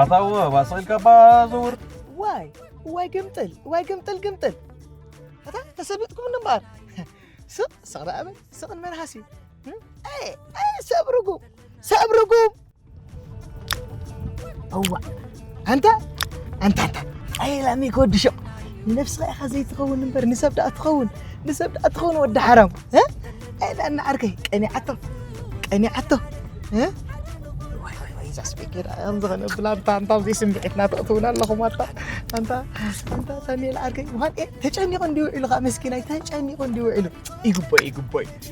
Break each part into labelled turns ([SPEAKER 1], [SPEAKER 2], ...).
[SPEAKER 1] ኣታው ባስቂልካ እባ ዘውር ዋይ ዋይ
[SPEAKER 2] ግምጥል
[SPEAKER 3] ዋይ ግምጥል ግምጥል ኣታ ተሰቢጥኩም እምበኣር ስቕ ስቕ ደኣ በል ስቕ ንመልሃሲ ሰብርጉም ሰብርጉም እዋ ኣንታ ኣንታ ኣንታ ኣይላሚ ጎድሾ ንነብስኻ ኢኻ ዘይትኸውን እምበር ንሰብ ደኣ ትኸውን ንሰብ ደኣ ትኸውን ወዲ ሓራም ኣይላ እናዓርከይ ቀኒዓቶ ቀኒዓቶ ስፒኪር ዝኾነ ብላንታ ኣንታ ኣብዚ ስምዒትና ተእትውና ኣለኹም ኣታ ኣንታ ኣንታ ሳሚኤል ዓርከይ ምዃን ተጨኒቑ እንዲውዒሉ ከዓ መስኪናይ ተጨኒቑ እንዲውዒሉ ይግቦ ይግቦ እዩ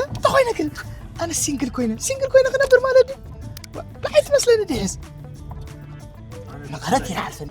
[SPEAKER 3] እንተኾይነ ግን ኣነ ሲንግል ኮይነ ሲንግል ኮይነ ክነብር ማለት ድዩ ብዓይ ትመስለኒ ድሕስ መቐረት ይርዓልፈኒ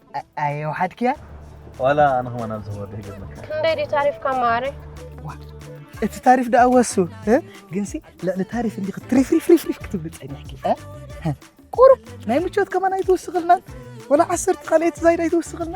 [SPEAKER 3] ኣየ ወሓድክያ ዋላ ኣነ ከማን
[SPEAKER 2] ኣብዚ ክወርድ ይገብር ክንደይ ድዩ ታሪፍካ
[SPEAKER 1] ማረ
[SPEAKER 3] እቲ ታሪፍ ደኣ ወሱ ግንሲ ልዕሊ ታሪፍ እንዲ ክትሪፍሪፍሪፍሪፍ ክትብሉ ፀኒሕኪ ቁሩብ ናይ ምቾት ከማን ኣይትውስኽልና ወላ ዓሰርተ ካልኣይቲ ዛይድ ኣይትውስኽልና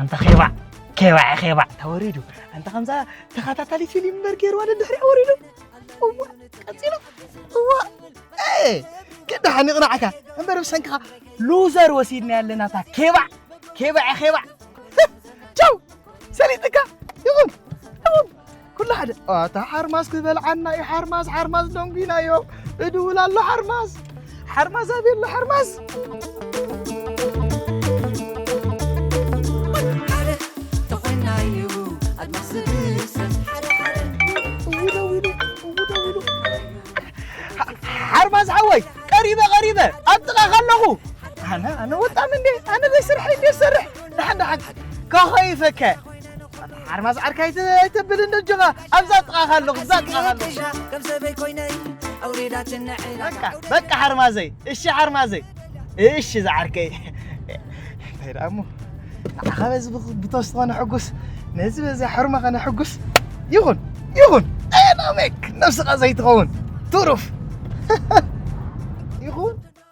[SPEAKER 3] ኣንታ ኼባዕ ኬባዕ ኼባዕ ተወሪዱ ኣንታ ከምዛ ተኸታታሊ ፊልም በር ገይርዋ ድሕሪያ ወሪዱ እዋ ቀፂሉ እዋ ግዳ ሓኒቕናዕካ እምበር ብሰንክኻ ሉዘር ወሲድና ኣለና እታ ኬባዕ ኬባዕ ኬባዕ ቻው ሰሊጥካ ይኹን ይኹን ኩሉ ሓደ ኣታ ሓርማዝ ክበልዓና ዩ ሓርማዝ ሓርማዝ ደንጒናዮ እድውል ኣሎ ሓርማዝ ሓርማዝ ኣበይ ኣሎ ሓርማዝ ሓርማዝ ሓወይ ቀሪበ ቀሪበ ኣብ ጥቓኻ ኣለኹ ኣነ ኣነ ወጣም እንዴ ኣነ ዘይስርሐይ እንዴ ዝሰርሕ ደሓን ደሓን ካኾይፈከ ሓርማዝ ዓርካ ኣይተብል እንዶ ጀኻ ኣብዛ ጥቓኻ ኣለኹ እዛ ጥቓኻ ኣለኹ በቃ ሓርማዘይ እሺ ሓርማዘይ እሺ ዝዓርከይ እንታይ ደኣ እሞ ንዓኻ በዚ ብቶስ ዝኾነ ሕጉስ ነዚ በዚ ሕርማ ኸነ ሕጉስ ይኹን ይኹን ኣየናመክ ነብስኻ ዘይትኸውን ትሩፍ ይኹን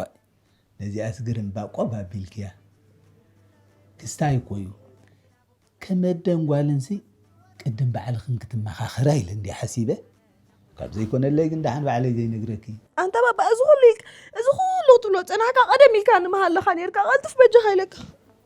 [SPEAKER 4] ኦይ ነዚኣስ ግርም ባቆብ ኣቢልክያ ክስታይ እኮ እዩ ከም ኣደን ጓልንሲ ቅድም ባዕልኽን ክትመኻኸራ ኢለ እንድየ ሓሲበ ካብ ዘይኮነለይ ግን ደሓን ባዕለይ ዘይነግረኪ ኣንታ ባባ እዚ ኩሉ
[SPEAKER 5] ኢልካ እዚ ኩሉ ክትብሎ ጸናሕካ ቀደም ኢልካ ንምሃለኻ ኔርካ ቀልጥፍ በጃኻ ኢለካ።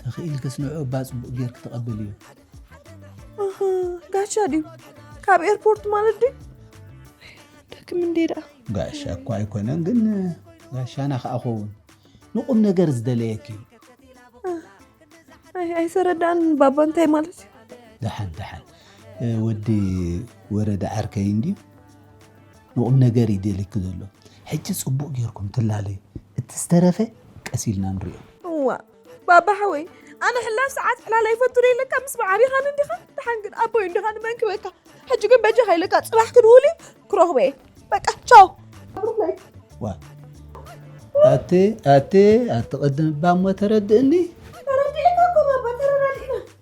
[SPEAKER 4] ተኽኢልክስ ንዑ እባ ፅቡቅ ጌርክ ተቐብል እዩ
[SPEAKER 5] ጋሻ ድዩ ካብ ኤርፖርት ማለት ድዩ ደክም እንዴ ደኣ ጋሻ እኳ
[SPEAKER 4] ኣይኮነን ግን ጋሻና ከዓ ኸውን ንቁም ነገር ዝደለየክ እዩ
[SPEAKER 5] ኣይሰረዳን ባባ እንታይ ማለት እዩ ደሓን
[SPEAKER 4] ደሓን ወዲ ወረደ ዓርከይ እንድዩ ንቁም ነገር እዩ ደልየኪ ዘሎ ሕጂ ጽቡቅ ጌርኩም ትላለዩ እቲ ዝተረፈ ቀስ ኢልና ንሪኦ። እዋእ
[SPEAKER 5] ባባ ሓወይ ኣነ ሕላፍ ሰዓት ዕላል ኣይፈቱን ኢለካ ምስ መዓቢኻን እንዲኻ ደሓን ግን ኣቦይ እንዲኻ ንመን ክበካ ሕጂ ግን በጃኻ ኢለካ ጽባሕ ክድውል እዩ ክረኽቦ እየ በቃ ቻው
[SPEAKER 4] ዋ ኣቲ ኣቲ ኣቲ ቅድም እባ እሞ ተረድእኒ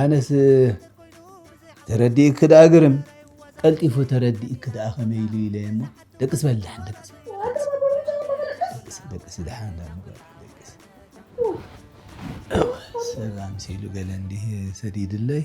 [SPEAKER 4] ኣነስ ተረዲእኪ ደኣ ግርም ቀልጢፉ ተረዲእኪ ደኣ ከመይ ኢሉ ኢለ እሞ ደቅስ በል ደሓን ደቅስ ደቅስ ደሓን ደቅስ ሰብ ኣምሲሉ ገለ እንዲህ ሰዲድለይ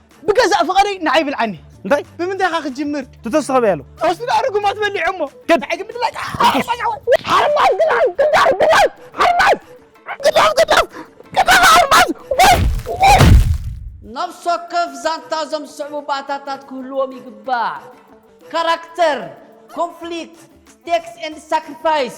[SPEAKER 3] ብገዛእ ፍቐደይ ንዓይ ብልዓኒ እንታይ ብምንታይ ኻ
[SPEAKER 2] ክጅምር
[SPEAKER 3] ትተስኸበ ያሉ
[SPEAKER 2] ተወስዱ ኣርጉማት
[SPEAKER 3] በሊዑ እሞ ገድ ሕጊ ምድላይ ሓርማዝ ግዳፍ ግዳፍ ግዳፍ ሓርማዝ ግዳፍ ግዳፍ
[SPEAKER 6] ግዳፍ ሓርማዝ ነፍሲ ወከፍ ዛንታ እዞም ዝስዕቡ ባእታታት ክህልዎም ይግባእ ካራክተር ኮንፍሊክት ስቴክስ ኤንድ ሳክሪፋይስ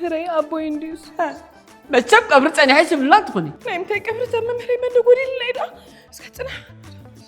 [SPEAKER 5] ምህረይ ኣቦይ እንድዩስ መቸም
[SPEAKER 6] ቀብሪ ፀኒሐ ሽብላ ትኾኒ ናይ ምንታይ ቀብሪ ዘመምህረይ
[SPEAKER 5] መደጎዲልና ኢዳ እስከ ፅናሕ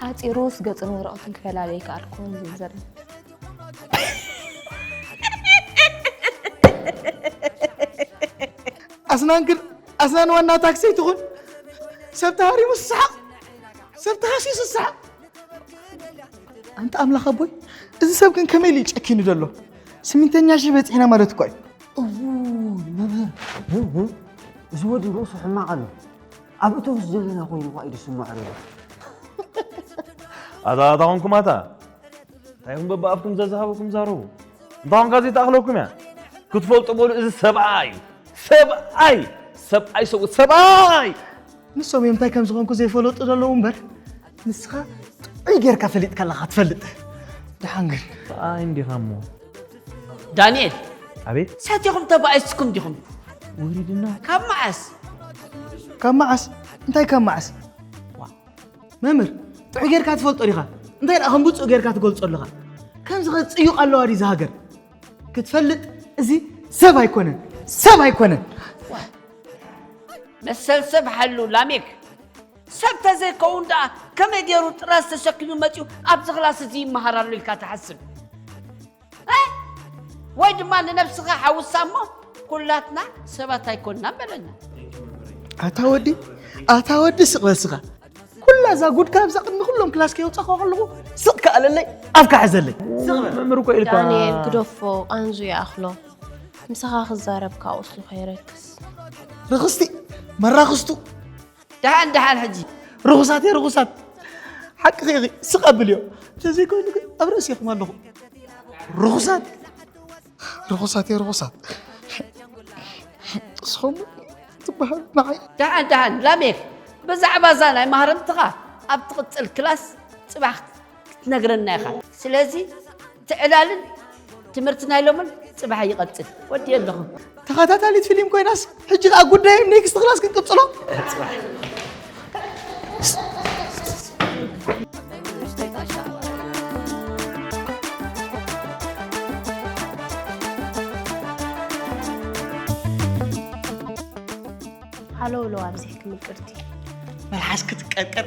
[SPEAKER 1] ሓፂሩስ ገፅን ወረቐትን ክፈላለይ ከኣልኩን ዝብል ዘሎ ኣስናን
[SPEAKER 3] ግን ኣስናን ዋና ታክሲ ትኹን ሰብ ተሃሪሙ ስሰሓቕ ሰብ ተሃሲዩ ስሰሓቕ ኣንተ ኣምላኽ ኣቦይ እዚ ሰብ ግን ከመይ ኢሉ እዩ ጨኪኑ ዘሎ ስሚንተኛ ሺህ በፂሕና ማለት እኳ እዩ እውይ መምህር ግን
[SPEAKER 7] ግን እዚ ወዲ ርእሱ ሕማቕ ኣሎ ኣብ እቶስ ዘለና ኮይኑ ኳ እዩ ዝስምዖ ነይሩ።
[SPEAKER 2] ኣታ ኣታ ኮንኩም ኣታ እንታይ ኢኹም በብኣፍኩም ዘዝሃበኩም ዛረቡ እንታ ኮንካ ዘይተኣኽለኩም እያ ክትፈልጡ በሉ እዚ ሰብኣ እዩ ሰብኣይ ሰብኣይ ሰብኡት ሰብኣይ ንሶም እዮም
[SPEAKER 3] እንታይ ከም ዝኾንኩ ዘይፈለጡ ዘለዉ እምበር ንስኻ ጥዑይ ጌርካ ፈሊጥካ ኣለኻ ትፈልጥ ድሓን ግን ኣይ እንዲኻ
[SPEAKER 2] እሞ ዳንኤል
[SPEAKER 6] ኣቤት
[SPEAKER 2] ሰቲኹም ተባኢስኩም
[SPEAKER 6] ዲኹም ውሪድና
[SPEAKER 2] ካብ መዓስ
[SPEAKER 6] ካብ መዓስ እንታይ ካብ መዓስ
[SPEAKER 3] መምህር ጥዑይ ጌርካ ትፈልጦ ዲኻ እንታይ ደኣ ከም ብፁእ ጌርካ ትገልጾ ኣለኻ ከምዚ ኸ ፅዩቕ ኣለዋ ድዩ ዝሃገር ክትፈልጥ እዚ ሰብ ኣይኮነን ሰብ ኣይኮነን
[SPEAKER 6] መሰል ሰብ ሓሉ ላሜክ ሰብ ተዘይከውን ደኣ ከመይ ገይሩ ጥራዝ ተሸኪሙ መጺኡ ኣብዚ ክላስ እዚ ይመሃር ኣሎ ኢልካ ትሓስብ ወይ ድማ ንነብስኻ ሓውሳ እሞ ኩላትና ሰባት ኣይኮንና በለና ኣታ ወዲ
[SPEAKER 3] ኣታ ወዲ ስቕ በልስኻ ኩላ እዛ ጉድካ ኣብዛ ቅድሚ ኩሎም ክላስ ከየውፃእካ ከለኹ ስቕ ከኣለለይ ኣብካ ሕዘለይ መምህር እኮ ኢልካ
[SPEAKER 2] ዳንኤል ግደፎ
[SPEAKER 1] ኣንዙ ይኣኽሎ ምሳኻ ክዛረብ ካብ ቁስሉ ከይረክስ ርኽስቲ
[SPEAKER 3] መራኽስቱ ደሓን
[SPEAKER 6] ደሓን ሕጂ ርኹሳት እየ ርኹሳት
[SPEAKER 3] ሓቅኺ ኢኺ ስቕ ኣብልዮ እንተዘይኮይኑ ግን ኣብ ርእሲኹም ኣለኹ ርኹሳት ርኹሳት እየ ርኹሳት እስኹም ትበሃል ንዓይ ደሓን ደሓን ላሜክ
[SPEAKER 6] ብዛዕባ እዛ ናይ ማህረምትኻ ኣብ ትቕፅል ክላስ ፅባሕ ክትነግረና ኢኻ ስለዚ እቲ ዕላልን ትምህርቲ ናይ ሎምን ፅባሕ ይቐፅል ወዲየ ኣለኹ ተኸታታሊት ፊልም
[SPEAKER 3] ኮይናስ ሕጂ ከዓ ጉዳይ ኔክስት ክላስ ክንቅፅሎ
[SPEAKER 1] ሃሎ ሎ ኣብዚ ክምቅርቲ መልሓስ
[SPEAKER 3] ክትቀርቀር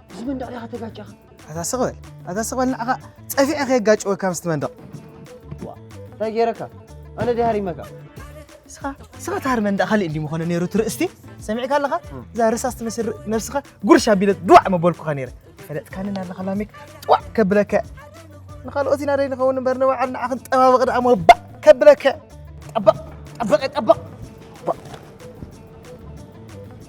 [SPEAKER 7] እዚ መንደቕ ዲኻ ተጋጨኻ? ኣታ ስቕ በል
[SPEAKER 3] ኣታ ስቕ በል ንዓኻ ጸፊዐ ከየጋጨወካ ምስቲ መንደቕ እንታይ
[SPEAKER 7] ገይረካ ኣነ ድያ ሃሪመካ ስኻ
[SPEAKER 3] ስኻ ታሃር መንደቕ ካልእ እንዲ ምኾነ ነይሩ ትርእስቲ ሰሚዕካ ኣለኻ እዛ ርሳስ ትመስል ነብስኻ ጉርሻ ቢለት ድዋዕ መበልኩኻ ነይረ ፈለጥካኒ ናለኻ ላሜክ ጥዋዕ ከብለካ ንኻልኦት ኢና ደይ ንኸውን እምበር ንባዕል ንዓ ክንጠባበቕ ደኣ መባእ ከብለካ ጠበቕ ጠበቐ ጠበቕ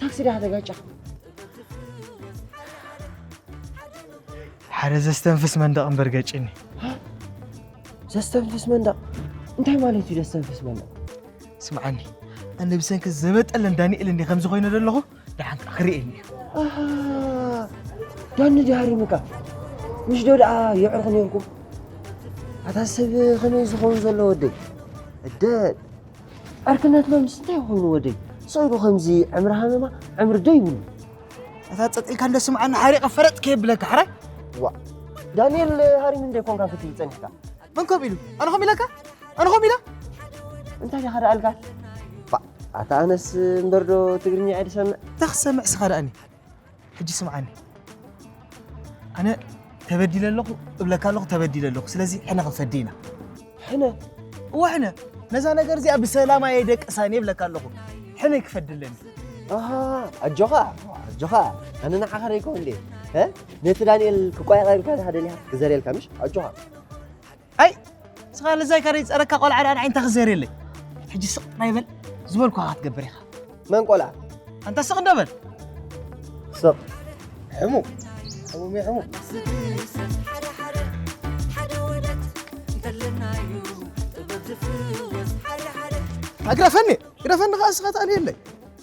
[SPEAKER 7] ታክሲ ድያ ከተጋጫ
[SPEAKER 3] ሓደ ዘስተንፍስ መንደቕ እምበር ገጭኒ ዘስተንፍስ
[SPEAKER 7] መንደቕ እንታይ ማለት እዩ ዘስተንፍስ መንደቕ ስምዓኒ
[SPEAKER 3] ኣነ ብሰንኪ ዘበጠለን ዳንኤል እንዲ ከምዚ ኮይነ ዘለኹ ደሓንካ ክርእየኒ እዩ ኣሃ፣
[SPEAKER 7] ዳኒ ድሃሪሙካ ምሽ ዶ ደኣ የዕርኹ ነርኩም ኣታ ሰብ ከመይ ዝኸውን ዘሎ ወደይ እደ ዕርክነትና ምስ እንታይ ኮይኑ ወደይ ሰኢሉ ከምዚ ዕምሪ ሃመማ ዕምሪ ዶ ይብሉ እታ
[SPEAKER 3] ጸጥ ኢልካ እንደ ስምዓኒ ሓሪቐ ፈረጥ ከየብለካ ሕራይ ዋ
[SPEAKER 7] ዳንኤል ሃሪም እንደ ኮንካ ክትብል ጸኒሕካ መን ከምኡ ኢሉ
[SPEAKER 3] ኣነ ከምኡ ኢለካ ኣነ ከምኡ ኢለ
[SPEAKER 7] እንታይ ዲኻ ደኣልካ ኣታ ኣነስ እምበር ዶ ትግርኛ እየ ዝሰምዕ እንታይ ክትሰምዕ ስኻ ደኣኒ
[SPEAKER 3] ሕጂ ስምዓኒ ኣነ ተበዲለ ኣለኹ እብለካ ኣለኹ ተበዲለ ኣለኹ ስለዚ ሕነ ክንፈዲ ኢና ሕነ እወ ሕነ ነዛ ነገር እዚኣ ብሰላም ኣየ ደቅሳን የብለካ ኣለኹ ሕነ ክፈዲ ኣለኒ ኣሃ
[SPEAKER 7] ኣጆኻ ኣጆኻ ኣነ ንዓኻ ደይኮ እንዴ ነቲ ዳንኤል ክቋየቐልካ ዝሃደልያ ክዘርየልካ ምሽ ኣጆኻ ኣይ
[SPEAKER 3] ስኻ ልዛይ ካደይ ጸረካ ቆልዓ ደኣ ንዓይ እንታይ ክዘርየለይ ሕጂ ስቕ ጥራይ በል ዝበልኩኻ ክትገብር ኢኻ መን ቆልዓ
[SPEAKER 7] ኣንታ ስቕ እንዶ በል ስቕ ሕሙ ሕሙ ሜ ሕሙ
[SPEAKER 3] ግረፈኒ ግረፈኒ ከዓ ስኻ ትኣልየለይ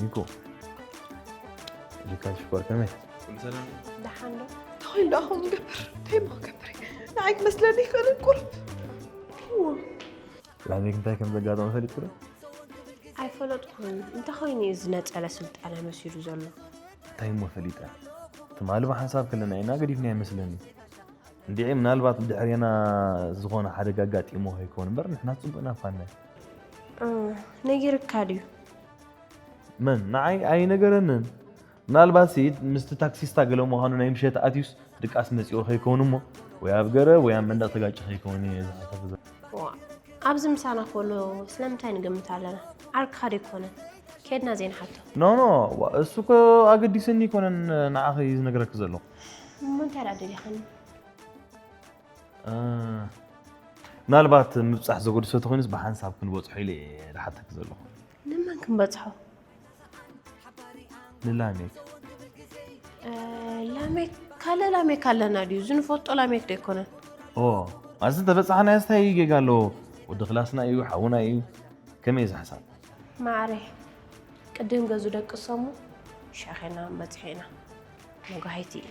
[SPEAKER 2] ኒኮ ሪካል ሽኮር ከመይ ሰላም ደሓን ዶ
[SPEAKER 1] ተኮይሉ ኣኹም
[SPEAKER 5] ይገብር እንታይ ሞ ገብር ንዓይ ክመስለኒ ይኽእል ቁርብ
[SPEAKER 2] ላሜ እንታይ ከም ዘጋጠመ ፈሊጡ ዶ
[SPEAKER 1] ኣይፈለጥኩን እንተኮይኑ እዩ ዝነፀለ ስልጣነ መሲሉ ዘሎ እንታይ እሞ
[SPEAKER 2] ፈሊጠ ትማሊ ብሓንሳብ ከለና ኢና ገዲፍና ይመስለኒ እንዲዒ ምናልባት ብድሕሬና ዝኾነ ሓደጋ ኣጋጢሞ ከይኮን እምበር ንሕና ፅቡቅ ኢና ፋናይ ነጊርካ
[SPEAKER 1] ድዩ
[SPEAKER 2] መን ንዓይ ኣይነገረንን ምናልባት ስኢድ ምስቲ ታክሲስታ ገለ ምዃኑ ናይ ምሸት ኣትዩስ ድቃስ መፂኦ ከይከውን እሞ ወይ ኣብ ገረ ወይ ኣብ መንደቕ ተጋጭ ከይከውን እየ ዝሓሰብ ኣብዚ
[SPEAKER 1] ምሳና ከሎ ስለምንታይ ንግምት ኣለና ዓርክኻ ደይኮነን ኬድና ዘይንሓቶ ኖኖ
[SPEAKER 2] እሱ እኮ ኣገዲስኒ ይኮነን ንዓኺ ዝነግረኪ ዘለኹ እሞ እንታይ ደኣ
[SPEAKER 1] ደሊኻኒ
[SPEAKER 2] ምናልባት ምብፃሕ ዘገድሶ ተኮይኑስ ብሓንሳብ ክንበፅሖ ኢለ እየ ዝሓተኪ ዘለኹ ንመን ክንበፅሖ ንላሜክ
[SPEAKER 1] ላሜክ ካለ ላሜክ ኣለና ድዩ እዚ ንፈልጦ ላሜክ ዶ ኣይኮነን ኦ ኣዚ
[SPEAKER 2] እንተበፃሕናዮ ስታይ ጌጋ ኣለዎ ወዲ ክላስና እዩ ሓውና እዩ ከመይ እዚ
[SPEAKER 1] ሓሳብ
[SPEAKER 2] ማዕረ ቅድም
[SPEAKER 1] ገዙ ደቅሶሙ ሻኼና በፅሒ ኢና መጓሂቲ እዩ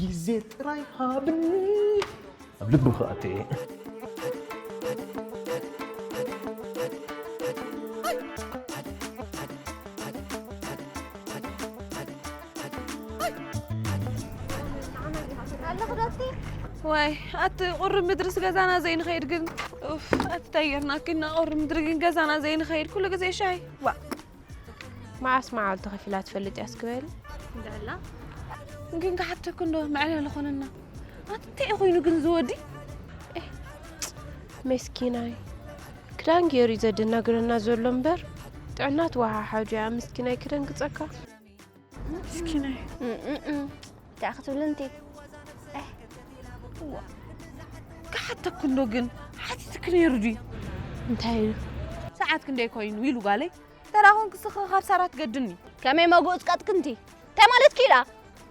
[SPEAKER 2] ግዜ ጥራይ ሃብኒ ኣብ ልብኺ ኣትየ
[SPEAKER 5] ዋይ ኣቲ ቁሪ ምድርስ ገዛና ዘይንኸይድ ግን ኣቲ ተየርናኪና ቁሪ ምድሪ ግን ገዛና ዘይንኸይድ ኩሉ ግዜ ሻይ ዋ
[SPEAKER 1] መዓስ መዓልቲ ከፊላ ትፈልጥ እያ ስክበሪ እንደላ
[SPEAKER 5] ግን ክሓተክ እንዶ መዕለሊ ኮነና ኣትንታይ ኮይኑ ግን ዝወዲ
[SPEAKER 1] መስኪናይ ክዳን ገይሩ እዩ ዘደናግረና ዘሎ እምበር ጥዕና ትወሓሓዱ እያ ምስኪናይ ክደንግፀካ
[SPEAKER 5] ምስኪናይ
[SPEAKER 8] እንታይ ክትብሉ እንት
[SPEAKER 5] ክሓተ ክንዶ ግን ሓቲትክ ነይሩ ድዩ እንታይ ኢሉ
[SPEAKER 1] ሰዓት
[SPEAKER 5] ክንደይ ኮይኑ ኢሉ ጓለይ ተራኹን ክስኽ ካብ ሳራ ትገድኒ ከመይ መጉእ
[SPEAKER 8] ዝቀጥክንቲ እንታይ ማለት ክኢላ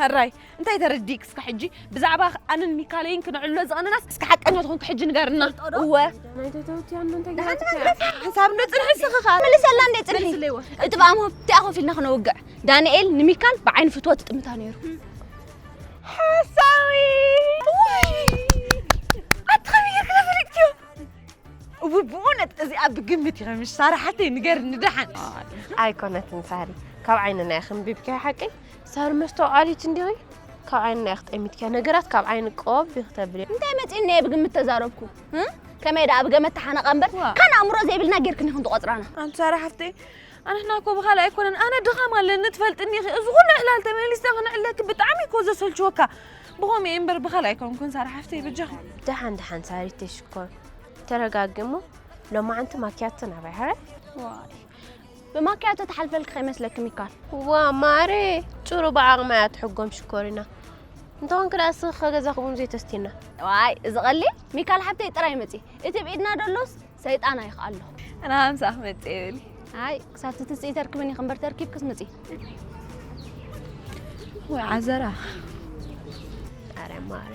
[SPEAKER 8] ሕራይ
[SPEAKER 5] እንታይ ተረዲክ እስከ ሕጂ ብዛዕባ ኣንን ሚካለይን ክነዕሎ ዝቐነናስ እስከ ሓቀኛ ዝኾንክ ሕጂ ንገርና እወ
[SPEAKER 1] ሓሳብ እንዶ
[SPEAKER 5] ፅንሒ ስኽኻ መልሰላ እንደ
[SPEAKER 8] ፅንሒ እቲ ብኣሞ እቲኣ ኮፍ ኢልና ክነውግዕ ዳንኤል ንሚካል ብዓይኒ ፍትወት ጥምታ ነይሩ ሓሳዊ
[SPEAKER 5] ኣቲ ከመይ ጌርክ ተፈሊጥክዮ እው ብእውነት እዚኣ ብግምት እዩ ከምሽ ሳራ ሓተይ ንገርኒ ደሓን ኣይኮነትን
[SPEAKER 1] ሳሪ ካብ ዓይንና ይኽንቢብክያ ሓቀይ ሳሪ መስተውዓሊት እንዲኺ ካብ ዓይንና ኢኺ ጠሚትኪያ ነገራት ካብ ዓይኒ ቆብ ኢኺ ተብልያ እንታይ መፂእኒ እየ ብግምት
[SPEAKER 8] ተዛረብኩ ከመይ ደኣ ብገመት ተሓነቐ እምበር ካን ኣእምሮ ዘይብልና ጌርክን ኢኹን ትቖፅራና ኣንቲ ሳራ ሓፍተይ
[SPEAKER 5] ኣንሕና እኮ ብካልእ ኣይኮነን ኣነ ድኻም ኣለኒ ትፈልጥኒ ኢኺ እዚ ኩሉ ዕላል ተመሊስና ክንዕለኪ ብጣዕሚ እኮ ዘሰልችወካ ብኸምኡ እዩ እምበር ብካልእ ኣይኮንኩን ሳራ ሓፍተይ ብጃኺ ደሓን ደሓን ሳሪተይ
[SPEAKER 1] ሽኮር ተረጋጊ እሞ ሎማዓንቲ ማኪያቶ ናባይ ሃረ
[SPEAKER 8] ብማክያቶ ትሓልፈልኪ ከይመስለኪ ሚካል። እዋ ማዕረየ
[SPEAKER 1] ጭሩ ብዓቕማ እያ ትሕጎም ሽኮሪና እንተኾንኪ ደኣ እስኺ ከገዛኺ ቡን ዘይተስትይና። ዋይ እዚ
[SPEAKER 8] ቀሊል ሚካል ሓብተይ ጥራይ መጺ እቲ ብኢድና ደሎስ ሰይጣን ኣይክኣሎ። ኣነ ሃምሳ
[SPEAKER 5] ክመጽእ እየ በሊ። ኣይ ክሳብቲ
[SPEAKER 8] ትስኢ ተርክብኒ ክንበር ተርኪብክስ ምጺ።
[SPEAKER 5] ወይ ዓዘራ።
[SPEAKER 1] ኣረ ማዕረ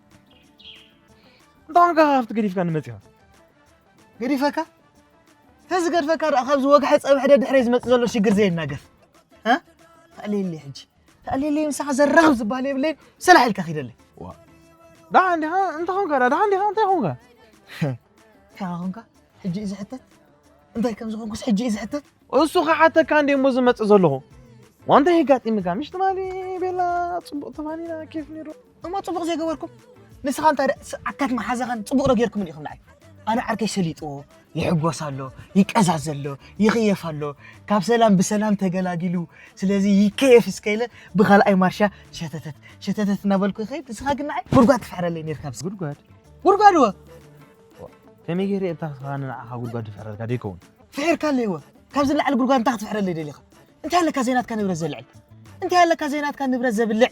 [SPEAKER 2] እንታንካ ካብቲ ገዲፍካ ንመፂኻ
[SPEAKER 3] ገዲፈካ ተዚ ገድፈካ ደኣ ካብዚ ወግሐ ፀብሐ ደድሕረ ዝመፅእ ዘሎ ሽግር ዘይናገፍ ተኣልየለይ ሕጂ ተኣልየለይ ምሳኻ ዘራኽብ ዝበሃል የብለይን ሰላሕ ኢልካ ኪደለይ
[SPEAKER 2] ደሓ እንዲኻ እንታይ ኾንካ ደኣ ደሓ እንዲኻ እንታይ ኾንካ እንታይኻ
[SPEAKER 3] ኾንካ ሕጂ እዩ ዝሕተት እንታይ ከም ዝኾንኩስ ሕጂ እዩ ዝሕተት እሱ ክሓተካ
[SPEAKER 2] እንደ እሞ ዝመፅእ ዘለኹ ዋንታ የጋጢምካ ምሽ ትማሊ ቤላ ፅቡቕ ትማሊና ኬፍ ነይሩ እሞ ጽቡቕ ዘይገበርኩም
[SPEAKER 3] ንስኻ እንታይ ደ- ስ- ዓካት መሓዛኻን ጽቡቕ ዶ ጌርኩምን ኢኹም ንዓይ ኣነ ዓርከይ ሰሊጥዎ ይሕጎስ ኣሎ ይቀዛዝ ኣሎ ይኽየፍ ኣሎ ካብ ሰላም ብሰላም ተገላጊሉ ስለዚ ይከየፍ እስከ ኢለ ብኻልኣይ ማርሻ ሸተተት ሸተተት እናበልኩ ይኸይድ ንስኻ ግን ንዓይ ጉድጓድ ትፍሕረለይ ነርካ ብስ- ጉድጓድ ጉድጓድ ወ
[SPEAKER 2] ከመይ ገይረ እታ ስኻን ንዓኻ ጉድጓድ ዝፍሕረልካ ደይከውን ፍሒርካ ኣለይዎ
[SPEAKER 3] ካብዚ ላዕሊ ጉድጓድ እንታይ ክትፍሕረለይ ደሊኻ እንታይ ኣለካ ዘይናትካ ንብረት ዘልዕል እንታይ ኣለካ ዘይናትካ ንብረት ዘብልዕ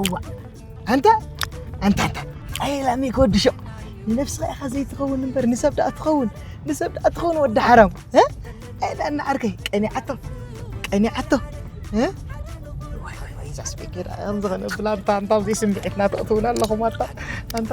[SPEAKER 3] እዋ ኣንታ ኣንታ ኣንታ ጸይላሚ ክወድሾ ንነብስኻ ኢኻ ዘይትኸውን እምበር ንሰብ ደኣ ትኸውን ንሰብ ደኣ ትኸውን ወዲ ሓራም ኣይዳ እናዓርከይ ቀኒዓቶ ቀኒዓቶ ዋይ ዋይ ዋይ እዛ ስቤኬዳ ከምዚ ከነብላ ኣንታ ኣንታ ዘይስምዒትና ተእትውና ኣለኹም ኣንታ ኣንታ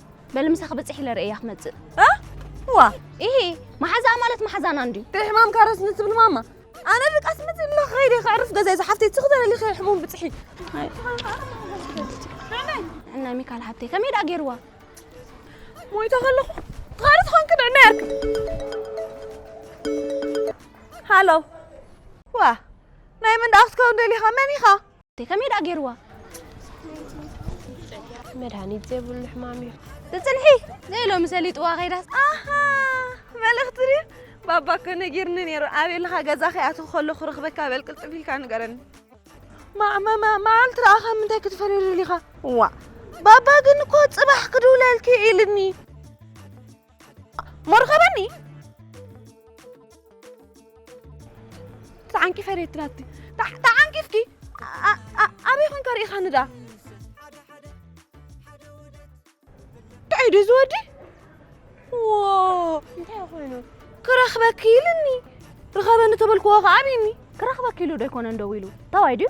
[SPEAKER 8] በል ምሳኺ ብፅሒ ኢለ ርእያ ክመፅእ እ እዋ ይሄ መሓዛኣ ማለት መሓዛና እንድዩ ከይ ሕማም ካረስ ንትብል
[SPEAKER 5] ማማ ኣነ ብቃ ስምት ኢለ ከይደ ክዕርፍ ገዛይ ዝሓፍተይ ትኽ ዘለሊ ከይ ሕሙም ብፅሒ
[SPEAKER 8] እና ሚካል ሃብተይ ከመይ ደኣ ገይርዋ
[SPEAKER 5] ሞይታ ከለኹ ትኻሪ ዝኾን ክድዕና ያርክ ሃሎ ዋ ናይ ምን ደኣ ክትከውን ደሊኻ መን ኢኻ እንተ ከመይ ደኣ ገይርዋ?
[SPEAKER 1] መድሃኒት ዘይብሉ ሕማም እዩ። ትጽንሒ
[SPEAKER 8] ዘይሎሚ ሰሊጥዋ ከይዳስ ኣሃ መልእኽቲ ድዩ
[SPEAKER 5] ባባ እኮ ነጊርኒ ነይሩ ኣበይ ኣለኻ ገዛ ከይኣተኹ ከሎ ክረኽበካ በል ቅልጥፍ ኢልካ ንገረኒ መዓልቲ ረኣኻ ምንታይ ክትፈልየሉ ኢኻ ዋ ባባ ግን እኮ ጽባሕ ክድውለልኪ ኢልኒ ሞርኸበኒ ተዓንቂ ፈሬት ትራቲ ተዓንቂ እስኪ ኣበይ ኮንካ ርኢኻኒ ድኣ እንታይ ዶ ዝወዲ እንታይ ኮይኑ
[SPEAKER 8] ክረኽበኪ
[SPEAKER 5] ኢልኒ ርኸበኒ ተበልክዎ ከዓ ኣብኒ ክረኽበኪ ኢሉ ዶ ኣይኮነን
[SPEAKER 8] ደው ኢሉ ተዋይ ድዩ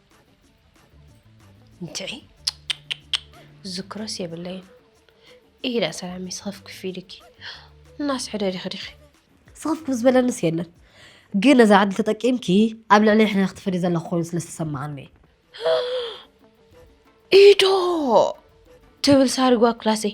[SPEAKER 1] እንትዒ ዝዝክሮስ የብለይን ኢዳ ሰላሚ ስኽፍክፍ ኢልኪ እናስ ሕደሪኺ ዲኺ ስኽፍክፍ
[SPEAKER 9] ዝበለንስ የለን ግን ነዛ ዕድል ተጠቂምኪ ኣብ ልዕሊ ሕነ ክትፈዲ ዘለኹ ኮይኑ ስለ ዝተሰማዓኒ
[SPEAKER 1] ኢዶ ትብል ሳሪጓ ክላሰይ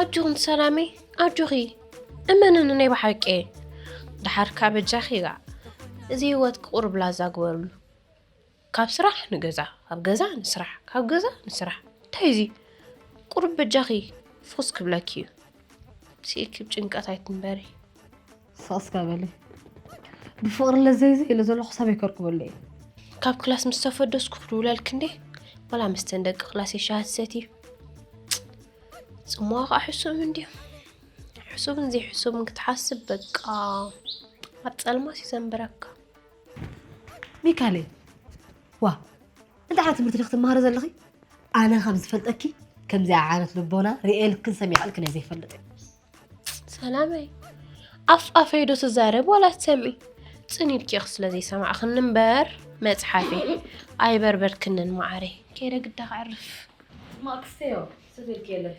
[SPEAKER 1] ኣጆኹን ሰላመይ ኣጆኺ እመንኒ ናይ ብሓቂ ድሓርካ በጃኺ ኢላ እዚ ህይወት ክቑርብ ላዛ ግበርሉ ካብ ስራሕ ንገዛ ካብ ገዛ ንስራሕ ካብ ገዛ ንስራሕ እንታይ እዚ ቁርብ በጃኺ ፍኹስ ክብለኪ እዩ ስኢኪ ብ ጭንቀት ኣይትንበሪ ስቕ
[SPEAKER 9] እስከ በሊ ብፍቕሪ ለዘይ ዘይ ኢለ ዘለኹ ሰበይ ከርክበሉ እዩ ካብ ክላስ
[SPEAKER 1] ምስ ተፈደስኩ ክድውለልክ እንዴ ወላ ምስተን ደቂ ክላስ የሻሃት ሰት እዩ ጽምዋ ከዓ ሕሱም እንድዮም ሕሱብን ዘይሕሱብን ክትሓስብ በቃ ኣብ ጸልማት እዩ ዘንብረካ
[SPEAKER 9] ሚካሌ ዋ እንታይ ዓይነት ትምህርቲ ዲኽ ትመሃሪ ዘለኺ ኣነ ከም ዝፈልጠኪ ከምዚኣ ዓይነት ልቦና ርእየልክን ሰሚዐልክን እየ ዘይፈልጥ
[SPEAKER 1] ሰላመይ ኣፍ ኣፈይዶ ትዛረብ ዋላ ትሰምዒ ፅን ኢልኪ ስለ ዘይሰማዕኽኒ እምበር መፅሓፊ ኣይበርበርክንን ማዓረይ ከይደ ግዳ ክዕርፍ ማክስዮ
[SPEAKER 9] ስብልክ የለካ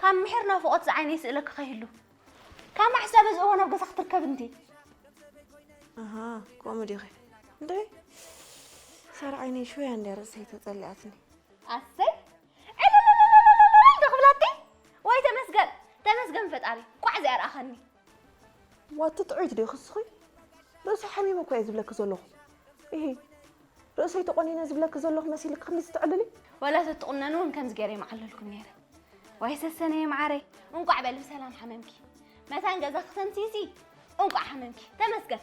[SPEAKER 8] ካብ ምሒር ናፍቖት ዝዓይነይ ስእለ ክኸይሉ ካብ ማሕሳብ እዚ እዋን ኣብ ገዛ ክትርከብ እንዲ
[SPEAKER 5] ኣሃ ከምኡ ዲኺ እንድዒ ሳራ ዓይነይ ሽወያ እንዲያ ርእሰይ ተጸሊኣትኒ ኣሰይ
[SPEAKER 8] ዕልልልልልልልል ዶ ክብላቲ ወይ ተመስገን ተመስገን ፈጣሪ ቋዕ እዚኣ ረኣኸኒ ዋቲ
[SPEAKER 5] ጥዑይት ዲኺ እስኺ ርእሰይ ሓሚሙ እኮ እየ ዝብለኪ ዘለኹ ኢሂ ርእሰይ ተቖኒነ ዝብለኪ ዘለኹ መሲልኪ ክንዲዚ ትዕልሊ ወላ ተትቑነኒ
[SPEAKER 8] እውን ከምዚ ገይረ ይመዓለልኩም ነይረ ዋይ ሰሰነየ መዓረይ እንቋዕ በል ብሰላም ሓመምኪ መታን ገዛ ክተምፅኢሲ እንቋዕ ሓመምኪ ተመስገን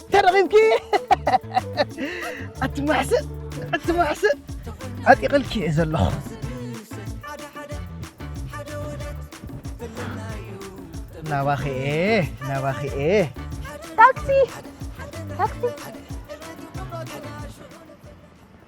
[SPEAKER 3] ተረኺብኪ ኣቲ ማሕስእ ኣቲ ማሕስእ ዓጢቕልኪ እየ ዘለኹ ናባኺ እየ ናባኺ እየ ታክሲ
[SPEAKER 8] ታክሲ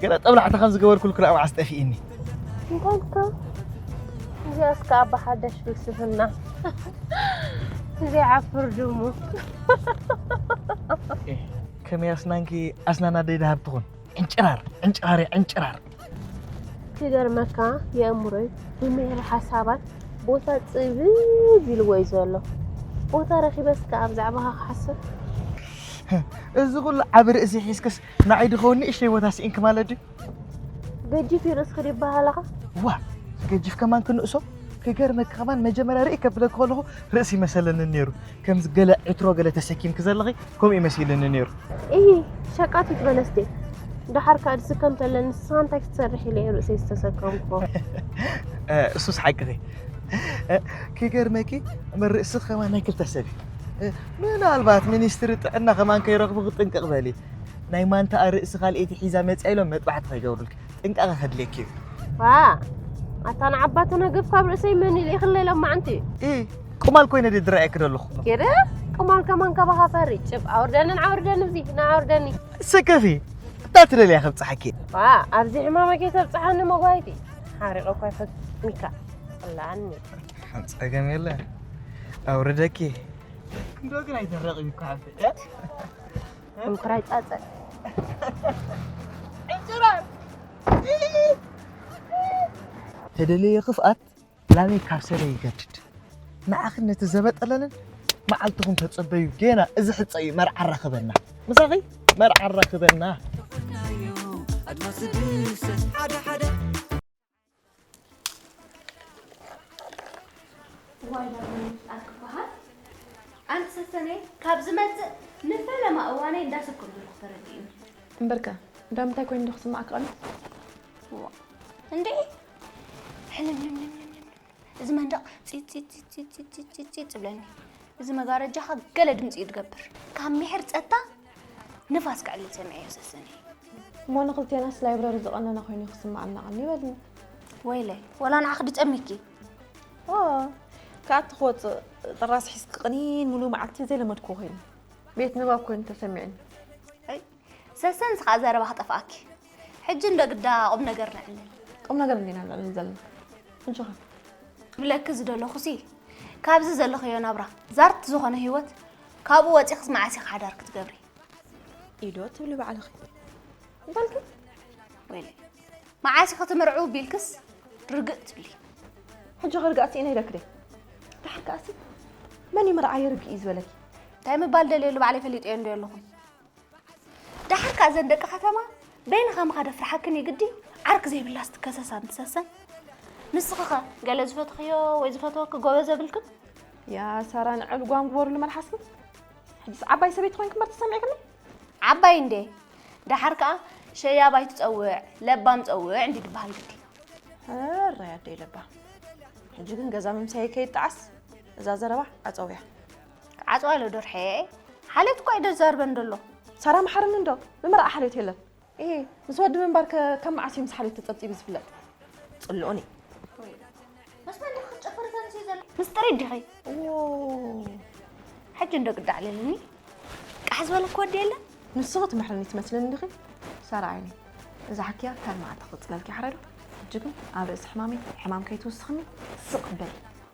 [SPEAKER 3] ገለ ጠብላዕታ ከም ዝገበርኩልኪ ርኣ መዓስ ጠፊእኒ እንታይ እልካ
[SPEAKER 1] እዚኣስ ከኣ ብሓደሽ ፍልስፍና ዘይዓፍር ድሙ
[SPEAKER 3] ከመይ ኣስናንኪ ኣስናን ኣደይ ደሃብ ትኹን ዕንጭራር ዕንጭራር እያ ዕንጭራር
[SPEAKER 1] ክገርመካ የእምሮይ ብምህር ሓሳባት ቦታ ፅብብ ኢልዎ እዩ ዘሎ ቦታ ረኪበስ ከዓ ብዛዕባካ ክሓስብ
[SPEAKER 3] እዚ ኩሉ ዓብ ርእሲ ሒዝክስ ንዓይ ድኸውን ንእሽተይ ቦታ ስኢንኪ ማለት ድዩ? ገጂፍ
[SPEAKER 1] እዩ ርእስኺ ድዩ ይበሃለኻ? ዋ
[SPEAKER 3] ገጂፍ ከማን ክንእሶ ክገርመኪ ከማን መጀመርያ ርእይ ከብለኪ ከለኹ ርእሲ ይመሰለኒ ነይሩ ከምዚ ገለ ዕትሮ ገለ ተሰኪምኪ ዘለኺ ከምኡ እዩ መሲልኒ ነይሩ እሂ
[SPEAKER 1] ሸቃቲት በለስ ድየ ደሓር ከዓ ድስከም ተለ ንስኻ እንታይ ክትሰርሕ ኢለ እየ ርእሰይ ዝተሰከምኩ
[SPEAKER 3] እሱስ ሓቅኺ ክገርመኪ ርእሲ ከማን ናይ ክልተ ሰብ እዩ ምናልባት ሚኒስትሪ ጥዕና ከማን ከይረኽቡ ክጥንቅቕ በሊ ናይ ማንታኣ ርእሲ ካልኤቲ ሒዛ መፅያ ኢሎም መጥባሕቲ ከይገብሩልክ ጥንቃቐ ከድልየክ እዩ ዋ
[SPEAKER 1] ኣታ ንዓባ ተነገፍ ካብ ርእሰይ መን ኢሉ ይኽለ ኢሎም ማዓንቲ ኢ ቁማል
[SPEAKER 3] ኮይነ ድየ ዝረኣየክ ዘለኹ ጌረ ቁማል
[SPEAKER 1] ከማን ካባኻ ፈሪ ጭብ ኣውርደንን ዓውርደን እዚ ንዓውርደኒ ሰከፊ
[SPEAKER 3] እታ ትደልያ ከብፅሓኪ ዋ ኣብዚ ሕማመ
[SPEAKER 1] ከይተብፅሓኒ መጓይቲ ሓሪቐ እኳ ይፈትኒካ ላኒ ጸገም
[SPEAKER 3] የለ ኣውርደኪ እንዶ ግን ኣይተረቕዩ እኮ ሓፍተ
[SPEAKER 1] እንኩራይ ጻጸ
[SPEAKER 3] ተደለየ ክፍኣት ላበይ ካብ ሰለ ይገድድ ንዓኺ ነቲ ዘበጠለንን መዓልትኹም ተጸበዩ ጌና እዚ ሕጸ እዩ መርዓ ኣራኽበና ምሳኺ መርዓ ኣራኽበና ኣድማስ ብሰ ሓደ ሓደ
[SPEAKER 8] እዋይ ዳግመ ምፍጣር ክበሃል ኣንት ሰሰነ ካብ ዝመፅእ ንፈለማ እዋነይ እንዳሰብኩም ዘለኹ ተረዲኡ እምበርከ
[SPEAKER 5] ዳምታይ ኮይኑ ዶ ክስማዕካ ኣሎ
[SPEAKER 8] እንዴ ሕልምልምልምልም እዚ መንደቕ ፂፅፅፅፅፅፅ ዝብለኒ እዚ መጋረጃኻ ገለ ድምፂ እዩ ዝገብር ካብ ምሕር ፀጥታ ንፋስ ክዕልል ሰሚዐዮ ሰሰነይ። እሞ
[SPEAKER 5] ንክልቴናስ ላይብረሪ ዝቐነነ ኮይኑ እዩ ክስምዓና ቐንዩ በልኒ። ወይለይ
[SPEAKER 8] ወላ ንዓኺ ድጨሚኪ። ኦ
[SPEAKER 5] ክኣቲ ክወፅእ ጥራስ ሒዝኪ ቕኒን ሙሉእ መዓልቲ ዘይለመድክዎ ኮይኑ ቤት ንባብ ኮይኑ ተሰሚዑኒ። ኣይ
[SPEAKER 8] ሰሰንስ ከዓ ዘረባ ክጠፍኣኪ። ሕጂ እንዶ ግዳ ቁም ነገር ነዕልል። ቁም ነገር እንዲና
[SPEAKER 5] ነዕልል ዘለና እንሽኸ። ክብለኪ
[SPEAKER 8] ዝደለኹሲ ካብዚ ዘለኽዮ ናብራ ዛርት ዝኾነ ህይወት ካብኡ ወፂኽስ መዓስ ኢኻ ሓዳር ክትገብሪ? ኢዶ
[SPEAKER 5] ትብሊ ባዕልኺ እንታይ ኢልኪ? ወይለ
[SPEAKER 8] መዓስ ኢኺ ትምርዕው ቢልክስ ርግእ ትብሊ። ሕጂ ክርጋእ
[SPEAKER 5] ስኢነ ኢለኪ ድየ? ድሓር ከኣሲ መን እዩ መርዓ የርግእ እዩ ዝበለኪ? እንታይ ምባል
[SPEAKER 8] ደልየሉ ባዕለይ ፈሊጠዮ እንድየ ኣለኹ። ደሓር ከኣ እዘን ደቂ ከተማ በይንኻ ምኻድ ኣፍርሓክን እዩ ግዲ ዓርክ ዘይብላስ ትከሰስ ኣንትሰሰን ንስኽኸ ገለ ዝፈትኽዮ ወይ ዝፈትወኪ ጎበዝ የብልክን ያ ሳራ
[SPEAKER 5] ንዕል ጓም ግበሩሉ መልሓስኩም ሕጅስ ዓባይ ሰበይቲ ኮይንክም በር ተሰሚዕክኒ ዓባይ እንዴ
[SPEAKER 8] ደሓር ከኣ ሸያባይ ትፀውዕ ለባም ፀውዕ እንዲ ድበሃል ግዲ ሕራይ
[SPEAKER 5] ኣደይ ለባ ሕጂ ግን ገዛ ምምሳይ ከይጣዓስ እዛ ዘረባ ኣፀውያ ዓጽዋለ
[SPEAKER 8] ዶርሐየ ሓልዮት እኳ ኣይደዛርበን ደሎ። ሳራ መሓርኒ እንዶ
[SPEAKER 5] ብመርዓ ሓልዮት የለን። እሂ ምስ ወዲ ምንባር ከ ካብ መዓስ እዩ ምስ ሓልዮት ተጸብጺቡ ዝፍለጥ? ጽልኦ ነይ።
[SPEAKER 8] ምስ መን ዲኺ ክትጨፍሪ ተንስኢ ዘለኺ? ምስ ጥሪት ዲኺ?
[SPEAKER 5] ዎው ሕጂ
[SPEAKER 8] እንዶ ግዲ ኣዕሊሉኒ። ቃሕ ዝበለኪ ወዲ የለን? ንስኺ ትምሕርኒ
[SPEAKER 5] ትመስልኒ ዲኺ? ሳራ ዓይነይ እዛ ሓክያ ካልእ መዓልቲ ክቕጽለልኪ ይሓረዶ። ሕጂ ግን ኣብ ርእሲ ሕማመይ ሕማም ከይትውስኽኒ ስቕ በሊ።